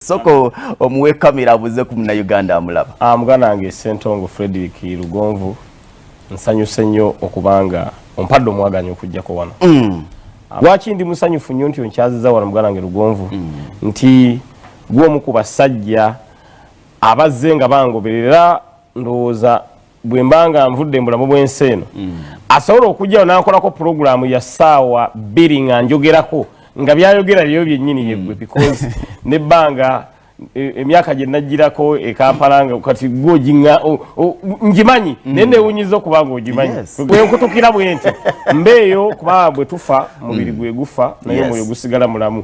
soko omuwe kamera abuze ku muna Uganda amulaba ah mugana wange Sentongo Frederick Lugonvu nsanyuse nnyo okubanga ompadde omwaganya okujjako wano mm. Ah, lwaki ndi musanyufu nnyo nti onkyaziza wano mugana wange Lugonvu mm. nti gwomu ku basajja abazze nga bangoberera ndowooza bwe mba nga nvudde mu bulamu bw'ensi eno mm. asobola okujjawo n'ankolako pulogulaamu ya ssaawa bbiri nga njogerako nga byayogera byeyo byennyini mm. yeggwe because nebbanga e, emyaka gye najjirako ekampala nga kati gwe ogiŋa ngimanyi mm. naye newunyiza okuba nga ogimanyi bwenkutukira bwenti mbeeyo kubanga bwe tufa mubiri gwe gufa naye omwoyo gusigala mulamu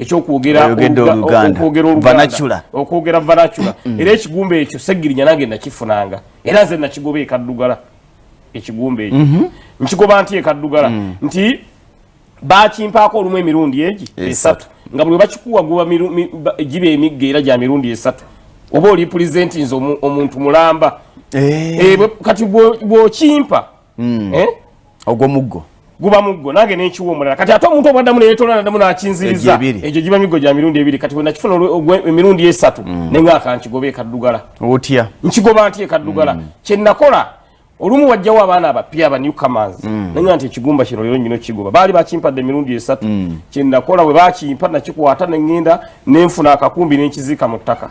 ekyokwogera oluganda okwogera vanacula mm. era ekigumba ekyo segirinya nange nakifunanga era nze nakigoba ekaddugala ekigumba ekyo mhm. nkigoba nti ekaddugala mm. nti bakimpaako olumu emirundi egi esatu nga buli webakikuwa guba giba emigga era gya mirundi esatu oba oli pulezenti nze omuntu mulamba eh. Eh, kati bwokimpa mm. eh? ogwo muggo guba muggo nange nenkiwa omulala kati ate omuntu obwaddamu neyetola nadamu nakinziriza egyo giba miggo gya mirundi ebiri kati wenakifuna emirundi esatu mm. nenga akankigoba ekaddugala otya nkigoba nti ekaddugala mm. kyenakola olumu wajjawo abaana abapya aba new commands mm. nanya nti ekigumba kino lero nyino kigoba baali bakimpadde emirundi esatu mm. kyenakola bwe bakimpa nakikwata nengenda nenfuna akakumbi nenkiziika mu ttaka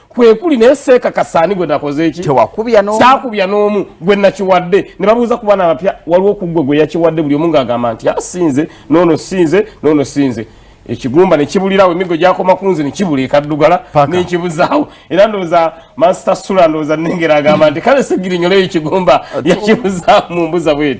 kwekuli naye seeka kasaani gwe nakoze eki tewakubya no saakubya n'omu gwe nakiwadde ne babuuza ku bana abapya waliwo ku gwe gwe yakiwadde buli omu ng'agamba nti asinze ah, noono sinze noono sinze ekigumba ne kibulirawo emigo gyakoma ku nze ne kibula ekaddugala n'ekibuzaawo era ndowooza mansita sula ndowooza nengera agamba nti kale segirinyolayo ekigumba yakibuzaawo mu mbuza bweti